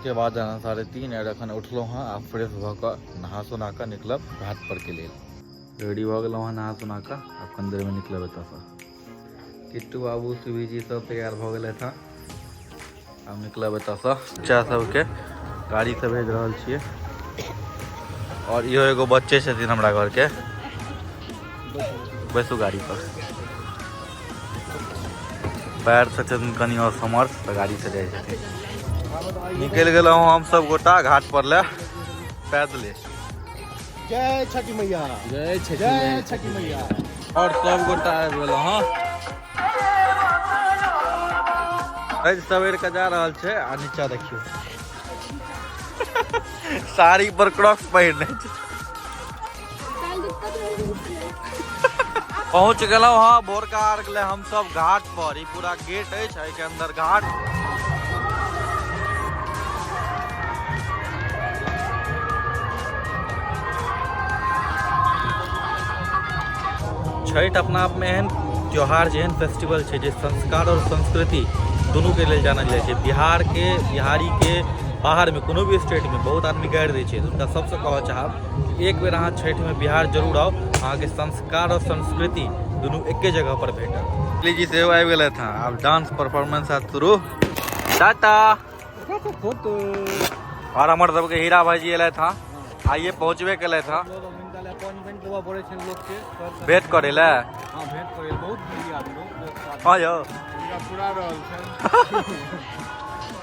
के बाद अहाँ साढ़े तीन आर अखन उठलहुँ हँ आ फ्रेश भऽ कऽ नहा सोना कऽ निकलब घाट पर के लेल रेडी भऽ गेलहुँ हँ नहा सोना कऽ आब कनी देरमे निकलब एतऽसँ किट्टू बाबू सुबी जी सब तैयार भऽ गेल हँ आब निकलब एतऽसँ बच्चा सबके गाड़ीसँ भेज रहल छियै आओर इहो एगो बच्चे छथिन हमरा घरके बैसू गाड़ी पर पैर से छथिन कनि और समर्थ तऽ गाड़ी से जाइ छथिन निकलि गेलहुँ हम सब गोटा घाट पर ले पैदले जय छठी मैया जय छठी जय छठी मैया और सब गोटा आबि गेल हँ आज सवेर के जा रहल छै आ नीचा देखियो साड़ी पर क्रॉक्स पहिरने छै पहुंच गेलहुं हँ भोरका अर्घ ले हम सब घाट पर ई पूरा गेट अछि एहिके अंदर घाट छठि अपना आपमे एहन त्यौहार जेहन फेस्टिवल छै जे संस्कार आओर संस्कृति दुनूके लेल जानल जाइ छै बिहारके बिहारीके बाहरमे कोनो भी स्टेटमे बहुत आदमी गारि दै छै हुनका सबसँ कहऽ चाहब एक बेर अहाँ छठिमे बिहार जरूर आउ अहाँके संस्कार आओर संस्कृति दुनू एके जगह पर भेटत जी सेहो आबि गेलै हँ आब डांस परफॉर्मेंस हैत शुरू टाटा आओर हमर सबके हीरा भाईजी एलथि हँ आइए पहुँचबे केलथि हँ भेट करे लए हाँ यौ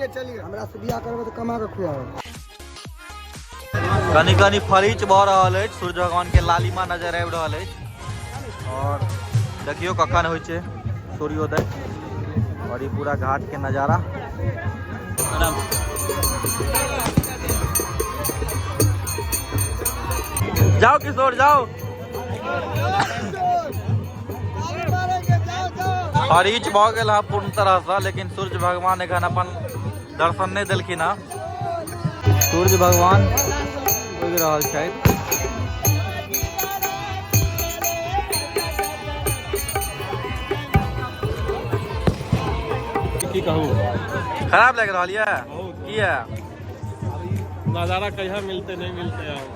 ये चलिए हमरा से बियाह करबे त कमा के खुआओ कनी कनी फरीच भऽ रहल अछि सूर्य भगवान के लालिमा नजर आबि रहल अछि और देखियो कखन होइ छै सूर्योदय और ई पूरा घाट के नजारा जाओ किशोर जाओ हरीच भऽ गेल है पूर्ण तरह से लेकिन सूर्य भगवान एखन अपन दर्शन नहीं दिलखिन है सूर्य भगवान उगि रहल छथि की कहू खराब लग रहा है किया नजारा कहिया मिलते नहीं मिलते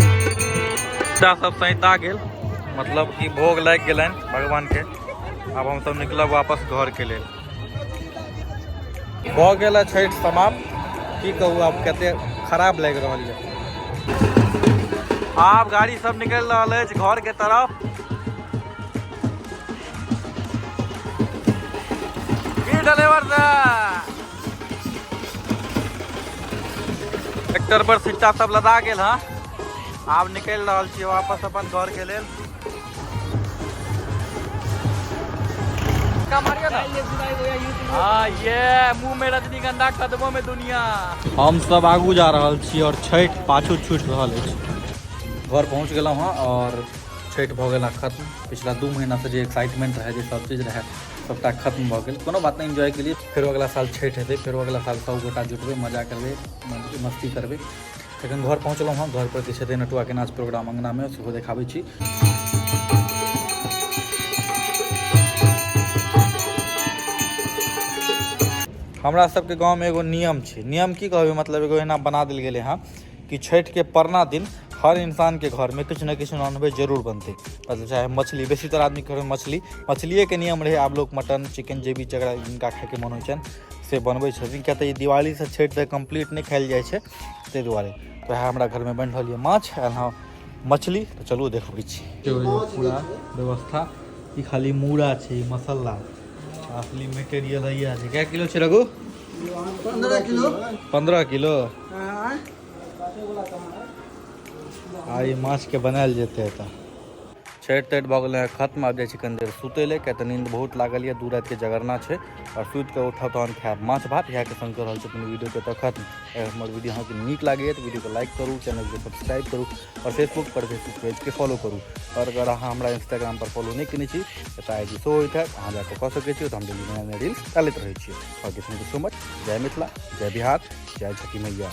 बच्चा सब सैता गेल मतलब कि भोग लागि गेलनि भगवानके आब हमसब निकलब वापस घरके लेल भऽ गेल है छठि समाप्त की कहू आब कते खराब लागि रहल यऽ आब गाड़ी सब निकलि रहल अछि घर के तरफ की ड्राइवर साहब ट्रैक्टर पर सिट्टा सब लदा गेल हँ आब निकलि रहल छी वापस अपन घर के लेल हम सब आगू जा रहा छी और छठ पाछू छूट रहा घर पहुँच गल हाँ और छठ भ गया खत्म पिछला दू महीना से एक्साइटमेंट रहे सब चीज रहे सबटा खत्म भ गया कोनो बात नहीं इन्जॉय के लिए फिर अगला साल छठ हेतु फिर अगला साल सब गोटा जुटबे मजा करबे मस्ती करबे एखन घर पहुँचलहुँ हँ घर पर किछु हेतै नटुआके नाच प्रोग्राम अङ्गनामे सेहो देखाबै छी हमरा सबके गाँवमे एगो नियम छै नियम की कहबै मतलब एगो एना बना देल गेलै हँ कि छठिके परना दिन हर इन्सानके घरमे किछु ने किछु नॉनवेज जरूर बनतै मतलब चाहे मछली बेसीतर आदमीके घरमे मछली मछलिएके नियम रहै आब लोक मटन चिकन जे भी जकरा जिनका खाइके मोन होइ छनि से बनबै छथिन किएक तऽ ई दिवालीसँ छठि तक कम्प्लीट नहि खाएल जाइ छै ताहि दुआरे तऽ वएह हमरा घरमे बनि रहल यऽ माछ एना मछली तऽ चलू देखबै छी पूरा व्यवस्था ई खाली मूड़ा छै ई मसाला असली मटेरियल है यह छै कै किलो छै रघु पंद्रह किलो पंद्रह किलो आ ई माछके बनायल जेतै एतऽ छठि तठि भऽ गेलै हँ खत्म आबि जाइ छी कनि देर सुतै लए किया तऽ नींद बहुत लागल यऽ दू रातिके जगरना छै आओर सुति कऽ उठब तहन खायब माछ भात इएहके संग कऽ रहल छी अपन वीडियोके तऽ खत्म अगर हमर वीडियो अहाँके नीक लागैए तऽ वीडियोके लाइक करू चैनलके सब्सक्राइब करू आओर फेसबुक पर फेसबुक पेजके फॉलो करू आओर अगर अहाँ हमरा इंस्टाग्राम पर फॉलो नहि केने छी तऽ आई डी शो होइत हैत अहाँ जाकऽ कऽ सकै छी तऽ हम डेली नया नया रील्स डालैत रहै छी आओर थैंक यू सो मच जय मिथिला जय बिहार जय छठी मैया